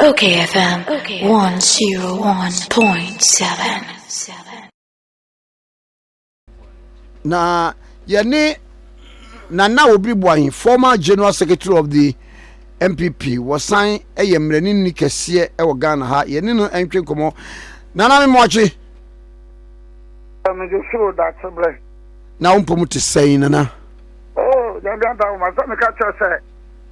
Okay FM 101.7 Na yɛne Nana Obiri Boahen former general secretary of the MPP wɔsan yɛ mmaranimni kɛseɛ wɔ Ghana ha yɛne no ntwe nkɔmmɔ Nana Memoakye Mede soro dakye berɛ na wo mpɔ mu te sɛn Nana? Oh, yɛn deɛ da wo ma sɛ meka kyerɛ sɛ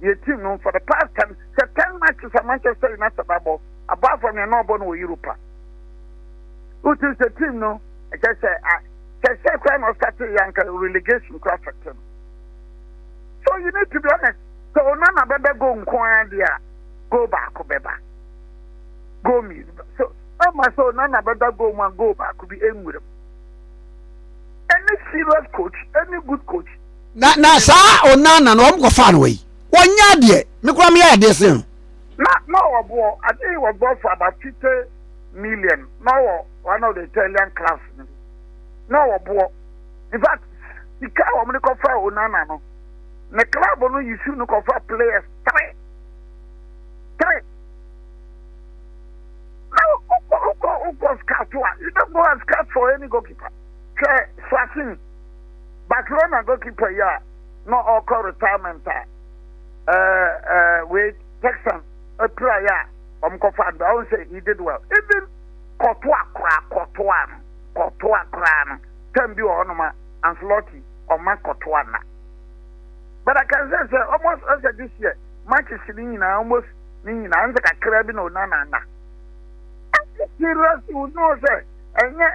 deɛ team no for the past ten sɛ ten matches a Manchester United abɔ apart from yɛn na ɔbɔ no wɔ Europa wotu sɛ team no ɛkyɛ sɛ kyɛ sɛ koraa na ɔsate yɛ anka relegation koraa fɛtɛ no so you need to be honest sɛ Onana bɛbɛ go nko ara deɛ a go baako bɛba go mmienu bɛba so ɛma sɛ Onana bɛda go mu a go baako bi ɛnwuram any serious coach any good coach na na saa onana no wɔn kɔ fa no wɔ yi wɔn nyɛ adeɛ me kura mi yɛ adeɛ sen no. na na ɔwɔ boɔ adeɛ yi wɔ boɔ for about fifty million na ɔwɔ one of the Italian clubs no na ɔwɔ boɔ in fact sika wɔn de kɔ fa onana no ne club no yi su no kɔ fa players three three na ɔkɔ ɔkɔ ɔkɔ scout a you don't go and scout for any goalkeeper hwɛ Swatini. Barcelona goalkeeper yi a na ɔrekɔ retirement a ɛɛ ɛɛ wei Texan apira yɛ a wɔn kɔfa ando ahun sɛ he did well even kɔtoa koraa kɔtoa no kɔtoa koraa no tɛm bi wɔ hɔ nom a Ancelotti ɔma kɔtoa na but I can say sɛ almost ɛsɛ this year matches ne nyinaa almost ne nyinaa nsɛ kakra bi na ɔnana na. Ɛsɛ serious you know sɛ ɛnyɛ.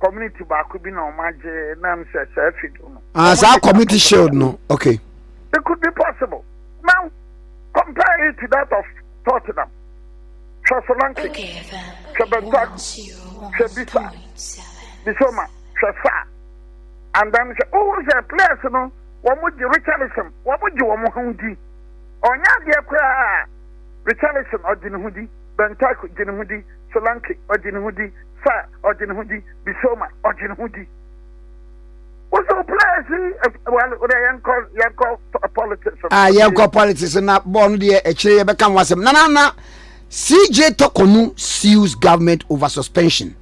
community baako bi na ɔmo agye na m sɛ saa fi do no. ah saa community shield no okay. it could be possible now compare it to that of tottenham hwɛ solanke hwɛ bentaku hwɛ bisa bisoma hwɛ saa and then hwɛ wohu sɛ players no wɔn mo gye richardson wɔn mo gye wɔn mo ho di ɔnyɛ adeɛ koraa richardson ɔgye ne ho di bentaku gye ne ho di. Solanke ɔgye ne ho di, Sarr ɔgye ne ho di, Bissouma ɔgye ne ho di. Wosow players yi eh, well, wodɛ yɛnkɔ yɛnkɔ politics. Ah, yɛnkɔ politics na bɔɔl no deɛ akyire yɛbɛka ho asɛm. Nana na CJ Tɔkɔnu sues government over suspension,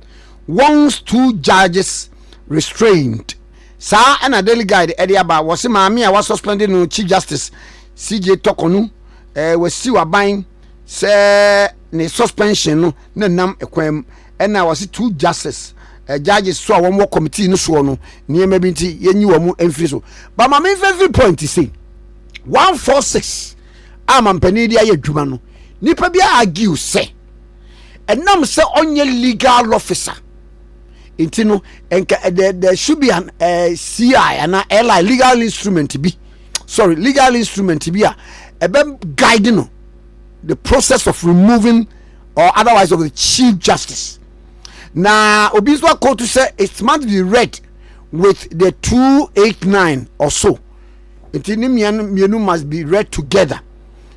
warns two judges restrained. Saa ɛna Daily Guide ɛde aba wɔ se maame a wasuspend no Chief Justice CJ Tɔkɔnu eh, wasiw aban sɛ ne suspension no na nam kwan mu. Ɛna wɔse two justice eh, judges so a wɔn wɔ committee no soɔ no nneɛma bi nti yɛnyi wɔn mfiri so. Ba ma memfa mfiri point sei. 146 a mampanin de ayɛ adwuma no, nipa bi argue sɛ ɛnam sɛ ɔnyɛ legal officer nti no nka eh, there, there should be an uh, eh, CI ana LI legal instrument bi sorry legal instrument bi a ɛbɛ guide no the process of removing or otherwise of the chief justice na obi nso akɔɔto sɛ it must be read with the two eight nine or so nti ne mmienu mmienu must be read together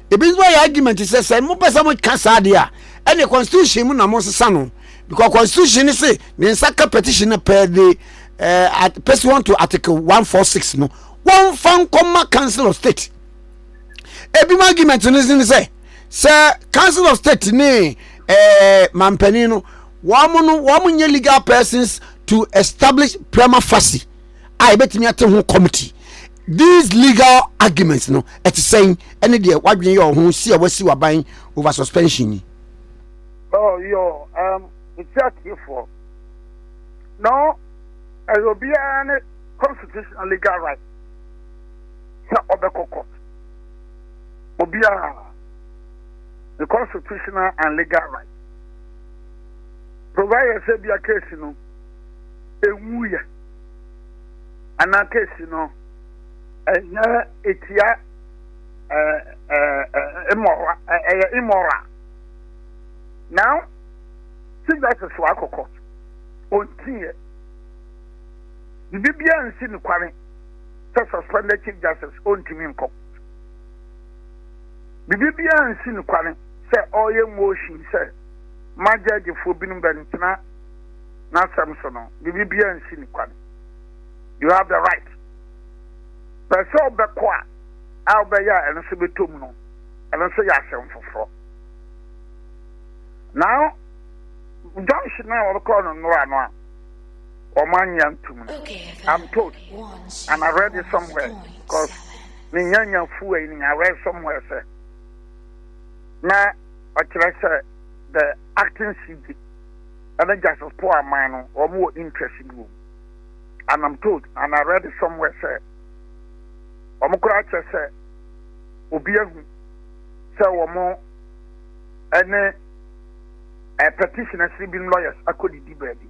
ebi nso ayɛ argument sɛ sɛ mo pɛ sɛ mo ka saa adeɛ a ɛne constitution mu na mo nsesa no because constitution ne se ne nsa ka petition na pɛ de ɛɛ pɛsi wɔn to article one four six no wɔn fa nkɔma council of state. ebinom argument no ne sɛ sɛ council of state ne ɛɛ eh, mampanin no wɔn no wɔn nyɛ legal persons to establish prima facie a yɛbɛtumi ate ho committee these legal arguments no ɛte sɛn ɛne deɛ wadwene yɛ ɔho si a wasi waban over suspension ni. oh yo um, nti atiefoɔ no ɛyɛ obiara ne constitutional legal right sɛ ɔbɛkɔ court. Obiara ne constitutional and legal right. Provided sɛ bia case no ɛnwuiɛ anaa case no ɛnyɛ ɛtia immoral ɛyɛ immoral. Now, Chief Justice wakɔ court. Ɔntiiɛ. Biribiara nsi no kwane. sɛ suspended chief justice ɔntumi nkɔ biribi biara nsi no kwane sɛ ɔreyɛ motion sɛ ma gyɛgyefoɔ binom bɛntena n'asɛm so no biribi biara nsi no kwane you have the right pɛ sɛ ɔbɛkɔ a a ɔbɛyɛ a ɛno nso bɛtɔ mu no ɛno nso yɛ asɛm foforɔ na junction a wɔkɔɔ no nnora no a wɔannya ntom no. I'm told and I read it somewhere because menya nya fuwa yi I read somewhere sɛ na ɔkyerɛ sɛ the acting CJ ɛne Justice Paul Aman no wɔn wɔ interest bi wɔ and I'm told and I read it somewhere sɛ wɔn koraa kyerɛ sɛ obi ahu sɛ wɔn ɛne a petition asi bi lawyers akɔdidi baabi.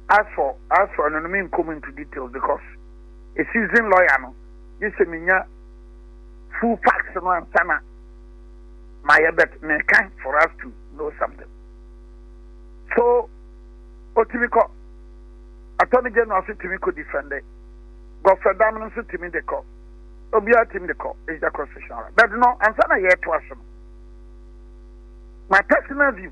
As for as for ɛno no me nkɔ mu into details because a season lawyer no gye sɛ menya full facts no ansa na mayɛ bet meka for us to know something so otumi kɔ attorney general so tumi kɔ defender gɔfrɛ dam no nso tumi de kɔ obiara tumi de kɔ is the constitutional right but no ansa na yɛto aso no my personal view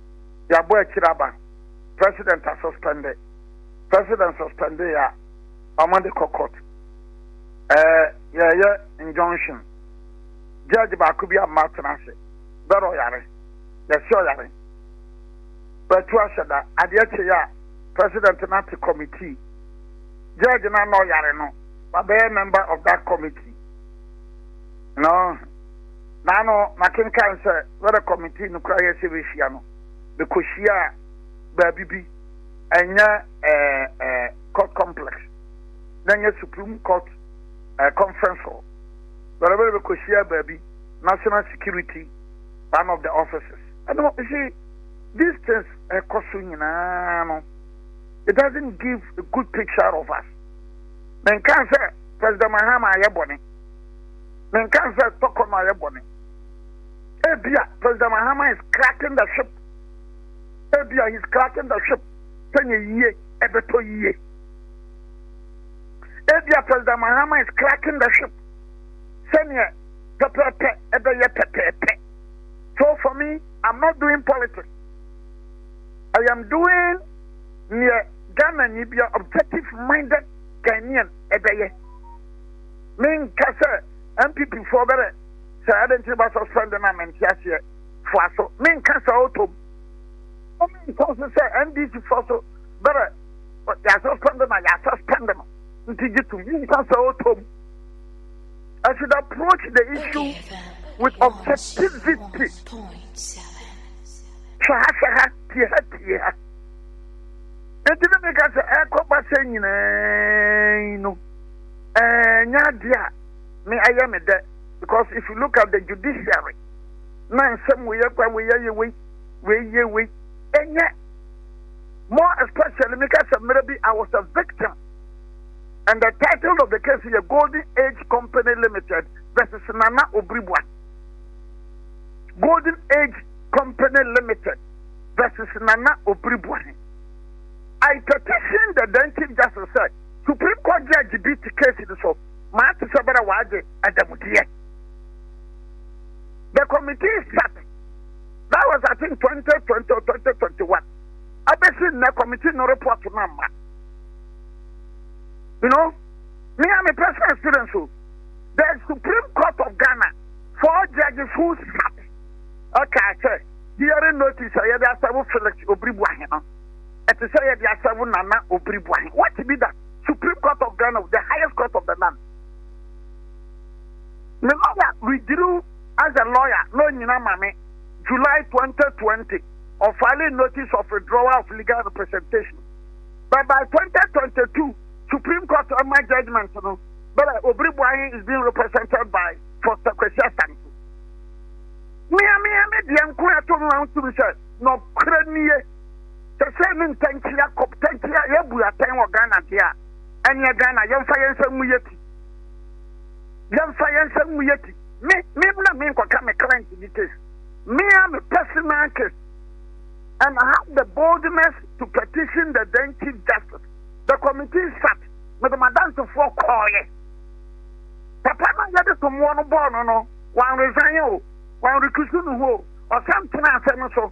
yɛabɔ akyiri aba president a suspendɛ president suspendɛ a ɔma de kɔ court ɛɛ yɛyɛ injunction judge baako bi ama atena ase bɛrɛ ɔyare yɛsi ɔyare bɛtu ahyɛ da adeɛ kye yɛ a president no ate committee judge no ana ɔyare no wabɛyɛ member of that committee no Naano makenkan sɛ Weather Committee no koraa yɛɛ sɛ bɛhyia no, bɛkɔhyiaa baabi bi, ɛnyɛ ɛɛ ɛɛ Court Complex, na ɛnyɛ Supreme Court ɛɛ Conference Hall, bɛrɛbɛrɛ bɛkɔhyiaa baabi, National Security one of the offices. Ɛno, you see, these things ɛkɔ so nyinaa no, it doesn't give a good picture of us. Menkaa sɛ President Mahama ayɛ bɔne. Menka sɛ tɔkɔ no ayɛ bɔne. Ebia President Mahama is cracking the ship. Ebia he's cracking the ship. Sɛ nyɛ yie, ɛbɛtɔ yie. Ebia President Mahama is cracking the ship. Sɛ nyɛ pɛpɛɛpɛ, ɛbɛyɛ pɛpɛɛpɛ. So for me, I'm not doing politics. I am doing near Ghana Nibia objective minded Ghanaian ebeye. Me nka sɛ NPP foɔ bɛrɛ sɛ ɛde nti ba suspend na me nte aseɛ foa so me nka sɛ ɔtɔm mo me nka so sɛ NDC foɔ so bɛrɛ yɛ suspend na yɛ suspend no nti gye tum me nka sɛ ɔtɔm I should approach the issue with objectivity. Shaha shaha, tieha tieha. Enti na meka sɛ ɛkɔba sɛ nyinaa no ɛnyɛ adeɛ a me ayɛ me dɛ because if you look at the judiciary na nsɛm wei akwa wei ayɛ wei wei yɛ wei ɛnyɛ more especially me kasa mmerɛ bi I was a victim and the title of the case is Golden Age Company Limited versus Nana Obribwa Golden Age Company Limited versus Nana Obribwa I petitioned the then Chief Justice said Supreme Court Judge bi te case no so maa te sɛ bɛrɛ wɔagye adamudeɛ. The committee sat that was I think 2020 or 2021 abɛsi nnɛ committee no report no amma you know me a me personal experience o the Supreme Court of Ghana four judges who sat ɛka sɛ hearing notice a yɛde asɛbo Felix Obiribu Ahena ɛte sɛ yɛde asɛ wo nana obiri boahe what be that supreme court of ghana the highest court of the land me lawyer withdrew as a lawyer no nyina ma me july 2020 of filing notice of withdrawal of legal representation but by 2022 supreme court of my judgment no but obiri boahe is being represented by foster kwesi asante mmea mmea ne deɛ nko ɛto no ahotumi sɛ nɔkorɛ nie Sɛ sei ne ntɛnkye Yakob tɛnkye a yɛbu atɛn wɔ Ghana deɛ a, ɛneɛ Ghana yɛmfa yɛn nsa ngu yɛti. Yɛmfa yɛn nsa ngu yɛti. Me, me na me nkɔka me client bi case. Me a me personal case. And I have the boldness to petition the then Chief Justice. The committee sat. Me de madansefoɔ kɔɔyɛ. Papa na yɛde tomoɔ no bɔɔ no no, wɔn resign o, wɔn recuse no ho o, ɔsan tena asɛm so.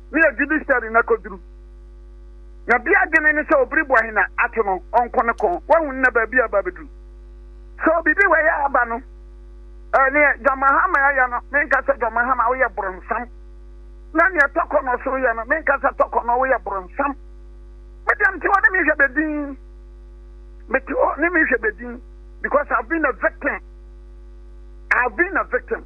ne a judiciary na koduru. Na bi adwene ne sɛ obiri bɔ hena ato no ɔnko ne kɔn wahu nna baabi a ba beduru. So bibi wɔ yɛ aba no eh, neɛ John Mahama ayɛ no menka sɛ John Mahama woyɛ boronsam na neɛ tɔkɔ no so yɛ no menka sɛ tɔkɔ no woyɛ boronsam. Medeɛ mte hɔ ne mehwɛ bedin mete hɔ ne mehwɛ bedin because I've been a victim I've been a victim.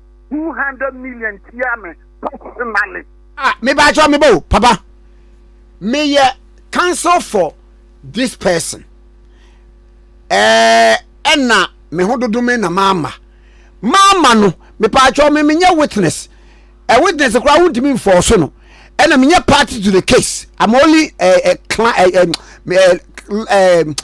two hundred million tia me personally. ah me ba atwa me ba o papa me yɛ counsel for this person ɛɛ ɛna me ho dodo me na maama maama no me pa atwa me me nyɛ witness ɛ eh, witness koraa wontumi nfɔɔ so no ɛna me nyɛ party to the case i'm only ɛɛ eh, ɛɛ eh, clan ɛɛ ɛɛ ɛɛ.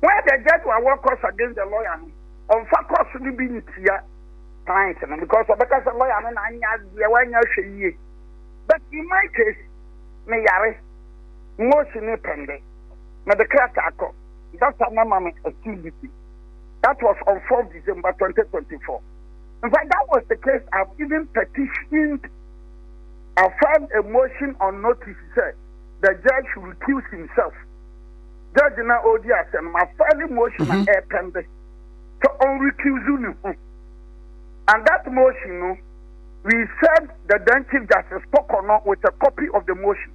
Where the Jesu a wɔ course against the lawyer no ɔnfa course no bi ntia client no because ɔbɛka sɛ lawyer no na anyɛ adeɛ wanyɛ ahwɛ yie but in my case me yare motion ne pɛnde mede krataa kɔ doctor na ma me activity that was on 4 December 2024 in fact that was the case I've even petitioned I filed a motion on notice sɛ the judge should recuse himself judge na ɔredi asɛm no mafa ne motion na ɛrepɛnde sɛ ɔnrecuse ne ho and that motion no we served the then chief justice kɔkɔ no with a copy of the motion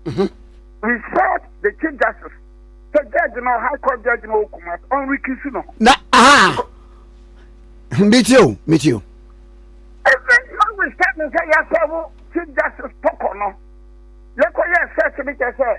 we served the chief justice sɛ judge no high court judge no ɔkuma ɔnrecuse ne ho na aha metie o metie o ɛsɛ na we stand sɛ yɛsɛ wo chief justice kɔkɔ no yɛkɔyɛ search no kyɛ sɛ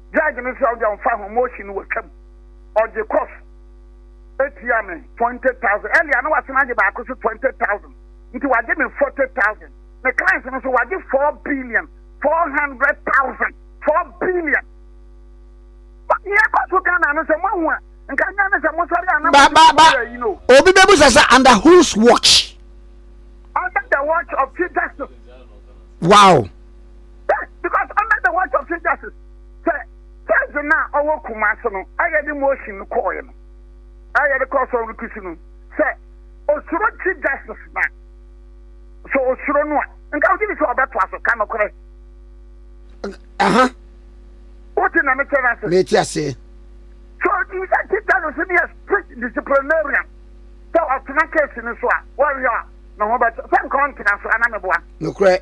Judge no sɛ ɔde ɔmfa ho motion no wɔtwa mu. Ɔgye kɔs etua me twenty thousand. Earlier na wasan agye baako so twenty thousand. Nti wagye me forty thousand. Me clients no so wagye four billion four hundred thousand. Four billion. Nea ɛkɔ so Ghana no sɛ moahu a nka nya ne sɛ mosɔre a na ba ba ba obi bɛbu sɛ sɛ under whose watch? Under the watch of chief justice. Wow. Yes, because under the watch of Chief Justice, sɛ Thursday na ɔwɔ Kumasi no, ɛyɛ de motion no kɔɔɛ no, ɛyɛ de kɔɔ sɔrɔ no kusi no, sɛ osoro Chief Justice na, sɛ osoro no a, nka wogye ne sɛ ɔbɛtoa so ka nokorɛ. Aha. Wote na mekyɛ no ase? Mete ase. So, you sɛ Chief Justice no yɛ strict disciplinarian, sɛ ɔtena case no so a, wɔhwɛ a, ne ho bɛkyɛ, sɛ nka ɔntena so, ana meboa? Nokorɛ.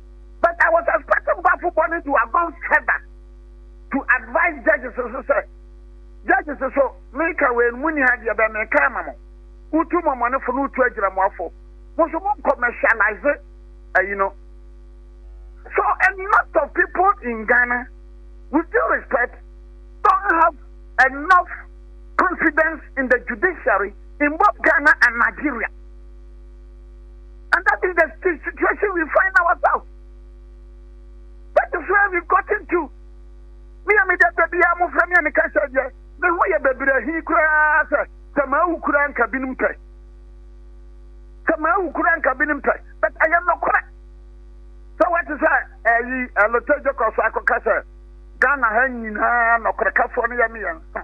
But I was expecting Bafo Boni to have gone further to advise judges nso sɛ, Judges nso, meka wei no, monni ha deɛ bɛn meka ama mo. Wotu mmɔmmɔnefo na wotu agyinamoafo. Mo nso mo commercialize ayi no. So a lot of people in Ghana, with due respect, don't have enough confidence in the judiciary in both Ghana and Nigeria. And that is the situation we find ourselves. That is where we've gotten to. Me a me da da biara mo fɛ me a me ka sɛ deɛ me ho yɛ bebree hi koraa sɛ sɛ maa wu koraa nka binom pɛ sɛ maa wu koraa nka binom pɛ but ɛyɛ nɔkorɛ sɛ wɔte sɛ ɛyi ɛlotɛ gyekɔ so akɔka sɛ ghana ha nyinaa nɔkorɛkafoɔ no yɛ mmiɛnsa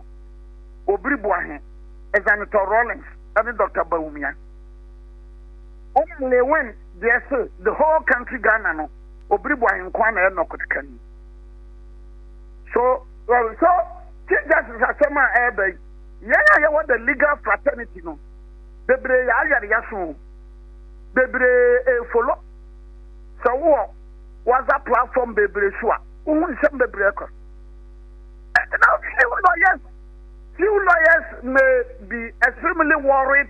obiri boahe ɛzanetɔ rollins ɛne dr bawumia Ɔma Lewin deɛ se the whole country Ghana no obiri bɔ ahenkoa na ɛyɛ nɔkot ka ni. So well so Chief Justice asɛm a ɛreba yi yɛn a yɛwɔ the legal fraternity no bebree yɛ ayare yaso bebree efolo sɛ wowɔ waza platform bebree so a wohu nsɛm bebree kɔ. Now few lawyers few lawyers may be extremely worried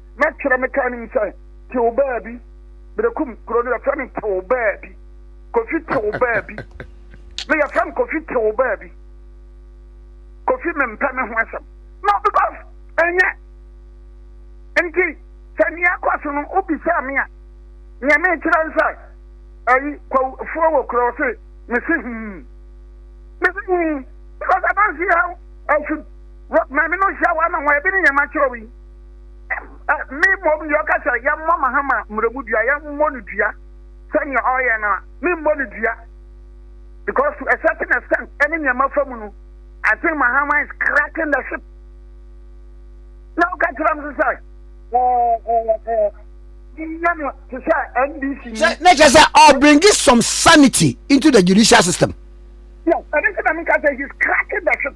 mɛtwerɛ me ka anim sɛ tew baabi berekum kuro no yɛfrɛ me tew baabi kofi tew baabi me yɛfrɛ me kofi tew baabi kofi mempɛ me ho asɛm no because ɛnyɛ nti sɛ nea ɛkɔ so no wobisa me a nea mekyerɛ n sɛ ayi kwafuo wɔ kuro se mese hum mese hum because adanse ha afi maame no hyia wa na wɔn ebi ne nyɛma kyerɛ wi me mmom deɛ ɔka sɛ yɛmmɔ mahama mmaramu dua yɛmmɔ no dua sɛnea ɔyɛ no a memmɔ no dua because to a certain extent ɛne nneɛma fa mu no I think mahama is cracking the ship na ɔka kyerɛ m sɛ yɛ no te sɛ NDC ni na kyerɛ sɛ ɔ bring some sanity into the judicial system yes ɛne sɛ na meka sɛ he's cracking the ship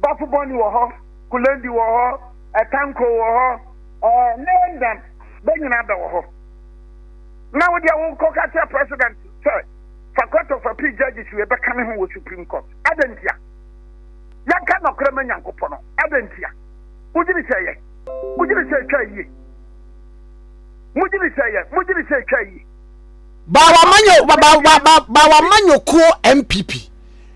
Bafoboni wɔ hɔ, Kulendi wɔ hɔ, Tanko wɔ hɔ, ne Ndam, bɛ nyinaa bɛ wɔ hɔ. Na wo deɛ wo nkɔ ka kyerɛ president sɛ fa court of appeal judges wei bɛka me ho wɔ supreme court. Adɛn ntia? Yɛnka nɔkorɛ ma Nyankopɔ no. Adɛn ntia? Wogyini sɛ yɛ? Wogyini sɛ ɛtwa yie? Mogyini sɛ yɛ? Mogyini sɛ ɛtwa yie? Bawamanyo, ba, ba, ba, ba, Bawamanyokuo MPP.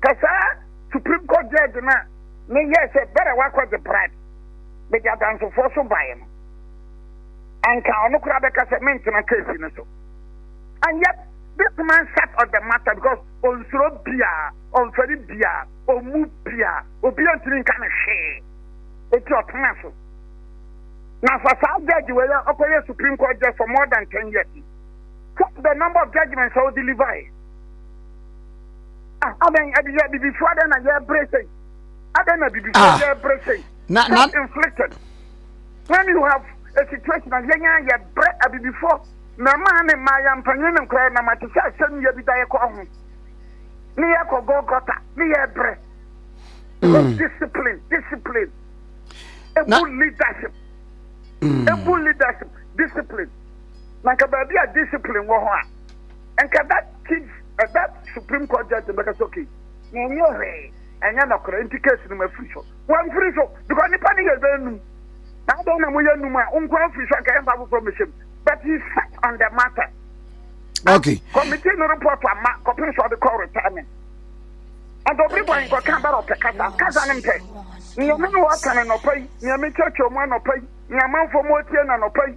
Ka saa Supreme Court Judge no a ne yɛɛ sɛ bɛrɛ wakɔgye bribe bɛdi adansefoɔ so baeɛ no, anka ɔno koraa bɛka sɛ mentena case no so. And yet this man sat on the matter because ɔnsuro biaa, ɔmfɛre biaa, ɔmmu biaa, obiaa ntumi nka no hwee. Eti ɔtena so. Na fa saa judge wei a ɔkɔyɛ Supreme Court Judge for more than 10 years. Check the number of judgments a ɔdeliver. Ah, adɛn ɛde yɛ abibifo adɛn na yɛbrɛ sɛn adɛn na abibifo ah. yɛbrɛ sɛn na na inflicted when you have a situation a yɛn a yɛbrɛ abibifo mmarima ne mmaa yɛ mpanyin ne nkora nam ate sɛ asɛm yɛ bi da yɛkɔ ho ne yɛkɔ gɔgɔta ne yɛbrɛ mm. discipline discipline ebu leadership mm. ebu leadership discipline na nka baabi a discipline wɔ hɔ a. Nka that chief eh, that supreme court judge no bɛka sɛ okay yɛnyɛ hwee ɛnyɛ nɔkorɛ nti case no mafiri so wamfiri so because nipa no yɛ bɛnum na adɛn na moyɛ num a wonkɔ afiri so anka yɛmfa foforɔ mmɛhyɛ mu but he sat on the matter okay committee no report ama kɔpem so ɔde kɔ retirement ɛnti obi bɔ nkɔka bɛrɛ ɔpɛ kasa kasa no mpɛ nneɛma no wɔka no nɔpa yi nneɛma kyerɛkyerɛ mu anɔpa yi nneɛma mfo mu otie no anɔpa yi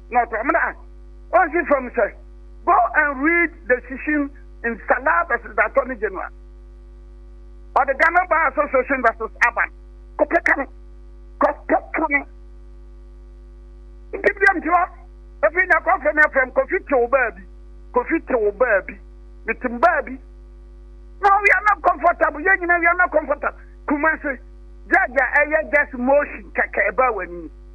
na ɔtɔ amena a, ɔnhwe fam sɛ, Go and read the shishin in Salah vs Datɔ ne Genoa. Ɔde Ghana Bar Association vs Aban kɔpɛ ka no. Kɔpɛ ka no. Nti biam ti hɔ. Efi nya kɔfrɛ me afrɛ m Kofi te wo baa bi. Kofi te wo baa bi. Mete m baa bi. No, we are not comfortable. Yɛn nyinaa we are not comfortable. Kumasi. Judge a ɛyɛ just motion kɛkɛ ɛbaa w'ani.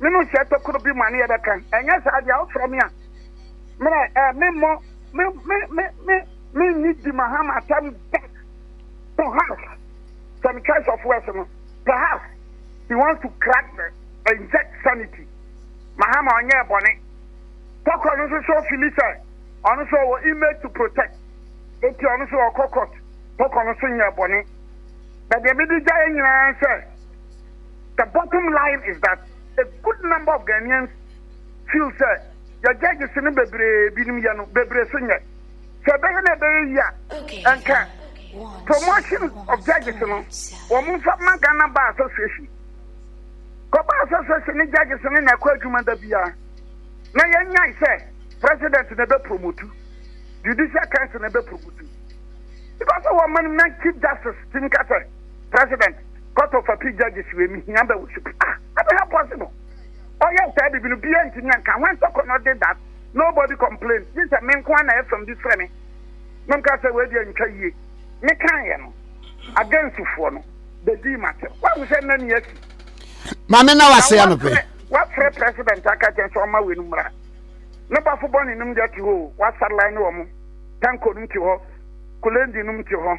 me no nhyɛ tokuro bi mu a ne yɛbɛka, ɛnyɛ saa deɛ a wofrɛ me a mmerɛ eh, memmɔ me me me me menni di mahama atam da perhaps sɛ me choice of words no perhaps he wants to crack the inject sanity mahama ɔnyɛ ɛbɔne tɔkɔ no nso so fili sɛ ɔno nso ɔwɔ image to protect eti ɔno nso ɔkɔ court tɔkɔ no nso nyɛ ɛbɔne bɛdeɛ mede gya yɛ nyinaa sɛ The bottom line is that a good number of Ghanaians feel sɛ yɛ judges no bebree binom yɛ no bebree so nyɛ. Sɛ ɛbɛyɛ na ɛbɛyɛ yi a, ɛnka promotion of judges no wɔn mfa ma Ghana Bar Association. Kɔ Bar Association ne judges no na ɛkɔ adwuma da biara na yɛnyae sɛ president na ɛbɛpromotu, judicial council na ɛbɛpromotu. Because wɔn ma no na chief justice ti nka sɛ president. Court of Appeal Judges wei mehia bɛ wo supi ah ɛbɛ ha possible ɔyɛ saa bibi no bia ntumi anka when Sokono did that nobody complained gye sɛ me nko na ɛfam bi frɛ me na mka sɛ wei deɛ ntwa yie me kan yɛ no against foɔ no bɛdii matem wahu sɛ nna ni asi maame na wase anɔpɛ wafrɛ president aka kyɛn sɛ ɔma wei no mmra ne bafo bɔ ne nom deɛ te hɔ wasarlan ne wɔ mo tanko nom te hɔ kulendi nom te hɔ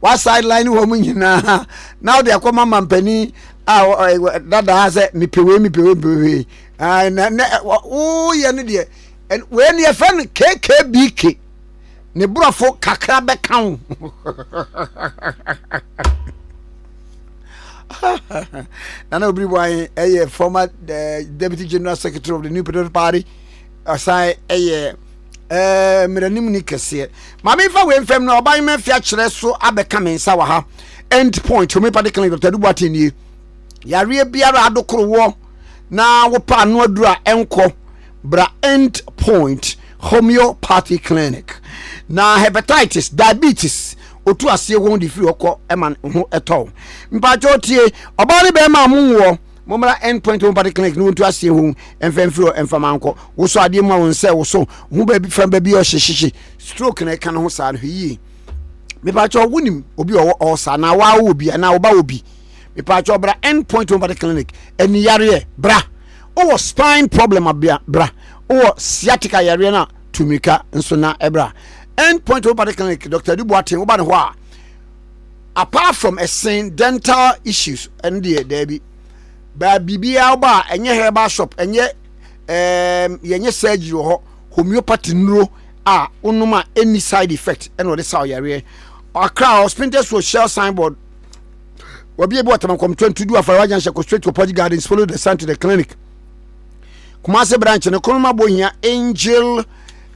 wa sideline wɔn nyinaa na ɔde akɔ ma mampanin a dadaa sɛ mepɛ wei mepɛ wei mepɛ wei na na woyɛ no deɛ wei ne yɛfrɛ no kkbk ne borɔfo kakra bɛka wo nana obiri bɔ ayɛ ɛyɛ former eh, deputy general secretary of the new patriotic party ɔsan yɛ ɛɛ mmeranimni kɛseɛ maame nfa wei nfam no ɔban mɛfi akyerɛ so abɛka me nsa wɔ ha end point homeopathic clinic dr adubu ate nie yareɛ biara adokorowoɔ na wopa ano aduru a ɛnkɔ bra end point homeopathy clinic na hepatitis diabetes otu aseɛ wɔn de firi hɔ kɔ ɛma ho ɛtɔw mpatsɔ tie ɔbaa ne bɛrima a mo nwoɔ. Mommra End Point Homeopathy Clinic ne wontu aseɛ ho ɛmfa mfiri hɔ ɛmfa ma nkɔ. Wosɔ adeɛ mu a wɔn sɛ woso ho baabi fa baabi ɔhye hyehye. Stroke na ɛka ne ho saa no hwɛ yie. Mepaakyɛw wonim obi ɔwɔ ɔɔsa anaa waa wɔ bi anaa woba wɔ bi. Mepaakyɛw bra End Point Homeopathy Clinic. Ani yareɛ bra. Wowɔ spine problem a bra. Wowɔ sciatica yareɛ no a tu mmirika nso na ɛbra. End Point Homeopathy Clinic Dr. Adu Boateng woba ne hɔ a. apart from ɛsen dental issues ɛno deɛ daabi baa biribiara wɔ a ɛnyɛ herbal shop ɛnyɛ ɛɛm yɛnyɛ surgery wɔ hɔ homeopathy nnuro a wonom a ɛnni side effect ɛna wɔde sa ɔyareɛ akra hɔ spintex wɔ shell signboard wɔbi ebi wɔ tamakɔm twenty du afarawa junction kɔ straight to pɔgye gardens follow the sun to the clinic kumase branch no kɔnɔma bɔ hia angel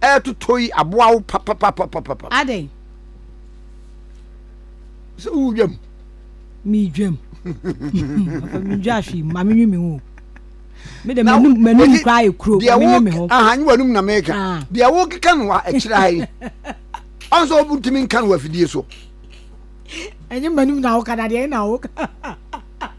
ɛretotɔ yi aboa wo papapapapapa. Adɛn? Sɛ wo dwam. Me dwam. Papa me dwa ahwe ma me nwi me ho. Me de manum manum kura ayɛ kuro ma me nwi me ho. Aha nyi wanum na meka. Ah. Deɛ wo keka no wa ɛkyerɛ ha yi. Ɔnso wo ntumi nka no afidie so. Ɛnyɛ manum na wo ka na deɛ na wo ka.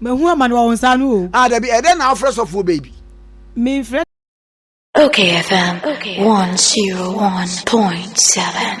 Mahu amane wɔ wo nsa ano o. Ah, dabi, ɛdɛn na wofrɛ sɔfoɔ bɛyi bi? Memfrɛ. Okay FM 101.7